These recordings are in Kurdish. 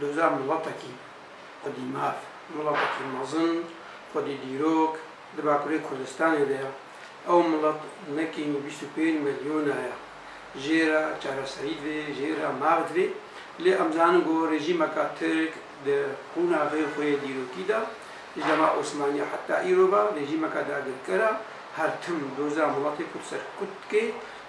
Doza miletekî xwedî mav, miletekî mezin, xwedî dîrok di Bakurê Kurdistanê de ye. Ew milet nekîn û bîst û pênc milyona ye. Jê re çareserî divê, jê re mav divê. Lê em zanin ku rejîmeka Tirk di qûnaxê xwe yê dîrokî de, ji dema Osmaniya heta îro ve rejîmeke dagirker e, her tim doza miletê Kurd ser Kurd dike,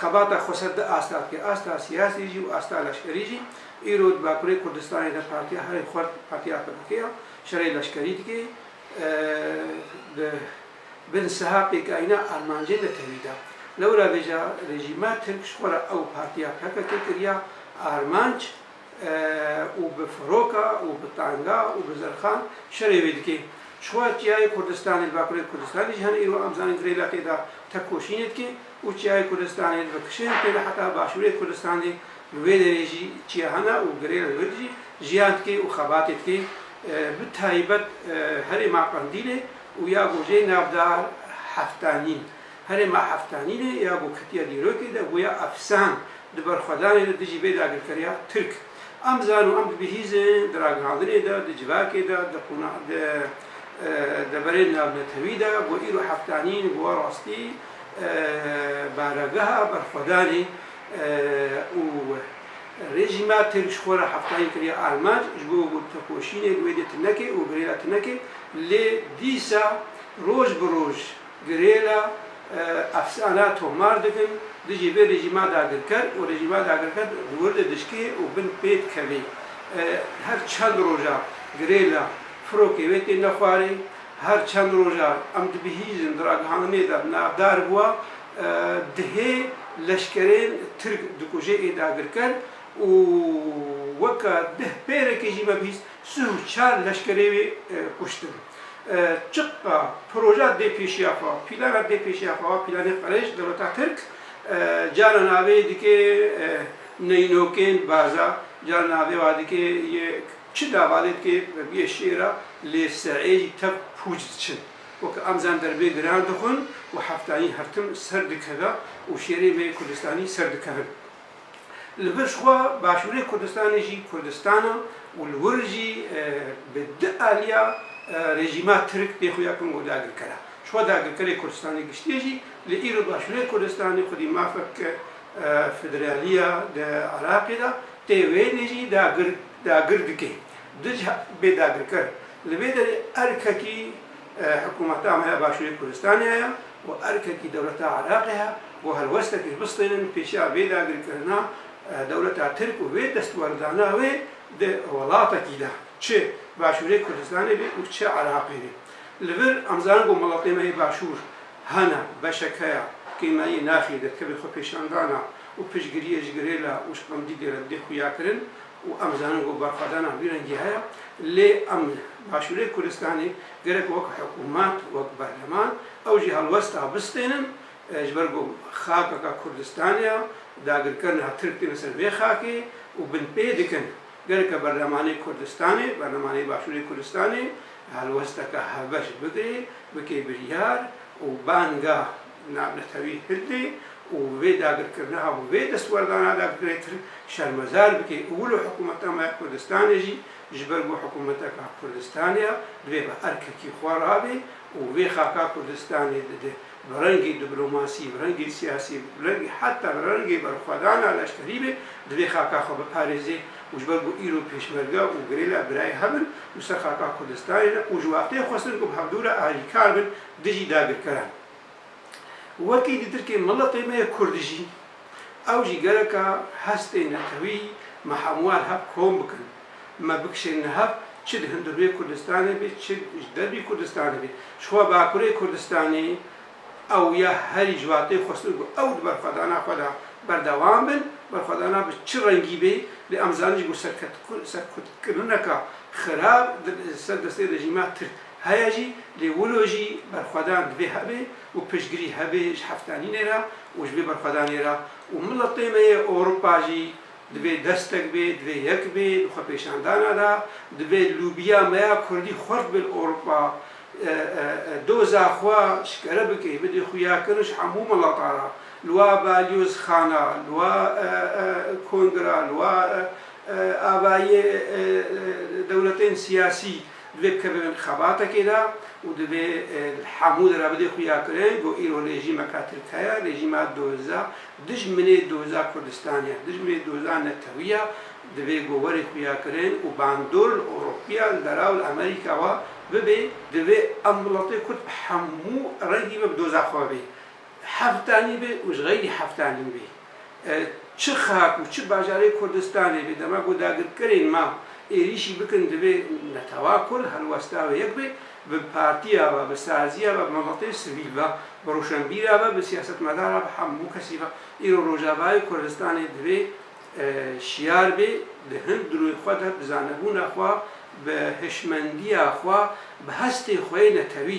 Xebata xweser du ast hat kir, asta siyasî jî û asta leşkerî jî. Îro di Bakurê Kurdistanê de Partiya herî xurt Partiya PKK ya şerê leşkerî dike. Di bin siha pêkayîna armancên de tevî da. Lewra vêja rejîma Tirk ji xwe re ew Partiya PKK kiriya armanc û bi firoka û bi tanga û bi zirxan şerê wê dike. Ji xwe re çiyayê Kurdistanê li Bakurê Kurdistanê jî hene îro em zanîn girê leqê de tekoşînê dike. û çiyayê Kurdistanê li bi kişên tê de heta başûrê Kurdistanê li wê derê jî çiya hene û girê li wir jî jiyan dike û xebatê dike bi taybet herêma Qendîlê û ya ku jê navda Heftanîn herêma Heftanînê ya ku ketiye dîrokê de bûye efsan di berxwedanê de dijî vê dagirkeriya Tirk em zan û em dibihîzin di ragihandinê de di civakê de di qûna di deverên navnetewî de ku îro Heftanîn bûye rastî. Bargeha Berxwedanê û Rejîma Tirk ji xwe re heftayî kiriye armanc ji bo ku tekoşînê li wê dê tuneke û girêla tuneke lê dîsa roj bi roj girêla efsana tomar dikin dijî vê rejîma dagirker û rejîma dagirker li wir de dişikê û bin pê dikeve. Her çend roja girêla firokê wê têne xwarê. Her çend rojan em dibihîzin di ragihandinê de navdar bûye dihê leşkerên Tirk dikuje ê dagirker û weke dih pêrekê jî me bihîst sih û çar leşkerê wê kuştin. Çiqqa proja dê pêşiya xwe, pîlana dê pêşiya xwe wa pîlanê qirêj dewleta Tirk cara navê dikê neynokên baza, cara navê wa dikê yê Çi davalê dike vebiyê şêra lê seeyî tev pûc diçin. Weke em zan derbê giran dixwin û heftayîn heftim ser dikeve û şêrê me yê Kurdistanî ser dikevin. Li vir ji xwe başûrê Kurdistanê jî Kurdistan e û li wir jî bi di aliya rejîma Tirk tê xuya kin ku dagirker e. Ji xwe dagirkerê Kurdistanê giştî jî li îro başûrê Kurdistanê xwedî mafek federaliya di Iraqê de tê wênê jî dagir dagir dike dij bêdagirker. Li vê derê erkekî hikûmeta me ya Başûrê Kurdistanê heye û erkekî dewleta Iraqê heye ku helwestekî bistînin pêşiya vê dagirkirina dewleta Tirk û vê destwerdana wê di welatekî de çi Başûrê Kurdistanê bê û çi Iraqê bê. Li vir em zanin ku welatê me yê Başûr hene beşek heye kê me yê naxî di tevî xwepêşandana û piştgiriyê ji girêla û ji qemdîgê re didê xuyakirin. û em zanin ku berxwedana wî rengî heye, lê em li Başûrê Kurdistanê gerek wek hikûmet, wek berleman ew jî helwesta bistênin ji ber ku xakeka Kurdistanê ye, dagirkerina Tirk têne ser vê xakê û binpê dikin. Gerek e berlemanê Kurdistanê, berlemanê Başûrê Kurdistanê helwesteke hevbeş bigire, bike biryar û banga Navnetewî Hildê û vê dagirkirina bi vê destwerdana de girêtir şermezar bike û wilo hikûmeta me ya Kurdistanê jî ji ber ku hikûmeteke Kurdistanê ye divê bi erkekî xwe rabê û vê xaka Kurdistanê dide bi rengî diplomasî, bi rengî siyasî, bi rengî heta bi rengê berxwedana leşkerî be divê xaka xwe biparêzê û ji ber ku îro pêşmerge û gerîla birayê hev in û ser xaka Kurdistanê ne û ji wextê xwestin ku bi hevdû re alîkar bin dijî dagirkeran. Wekî di tirkê miletê me yê kurd jî, ew jî gereka hestên netewî me hemû wan hev kom bikin, me bikişînin hev çi di hundirûyê Kurdistanê bê çi ji derbî Kurdistanê bê. Jixwe bakurê Kurdistanê ew ya herî ji wateyê xwestin ku ew di berxwedana xwe de berdewam bin, berxwedana bi çi rengî bê, lê em zanin jî ku serkutkirineka xirab li ser destê rejîma tirk. Heye jî, lê wilo jî berxwedan divê hebe û piştgirî hebe ji heftanînê re û ji vê berxwedanê re û miletê me yê Ewropa jî divê destek bê, divê yek bê di xwepêşandana de, divê lûbiya me ya kurdî xurt bê li Ewropa, doza xwe şikere bike, bidê xuyakirin ji hemû milata re, li wa balyozxana, li wa kongra, li wa avayiyê dewletên siyasî. Divê kevin xebatekê de û divê li hemû de re bidê xuya kirin ku îro rejîmeka Tirk heye, rejîma doza, dijminê doza Kurdistanê ye, dijminê doza netewî ye, divê ku werê xuya kirin û bandor li Ewropiya, li Dera û li Amerîka we bibê. Divê em welatê Kurd bi hemû rengî ve bi doza xwe ve bê. Heftanî be û ji xeylî heftanî be, çi xak û çi bajarê Kurdistanê be, dema ku dagirkerên ma êrîşî bikin divê netewa Kurd helwesta ve yek be, bi partiya ve, bi saziya ve, bi miletê sivîl ve, bi rûşenbîra ve, bi siyasetmedar ve, bi hemû kesî ve. Îro Rojavayê Kurdistanê divê şiyar be, di hin dirûê xwe de, bi zanebûna xwe, bi hişmendiya xwe, bi hestê xwe yê netewî,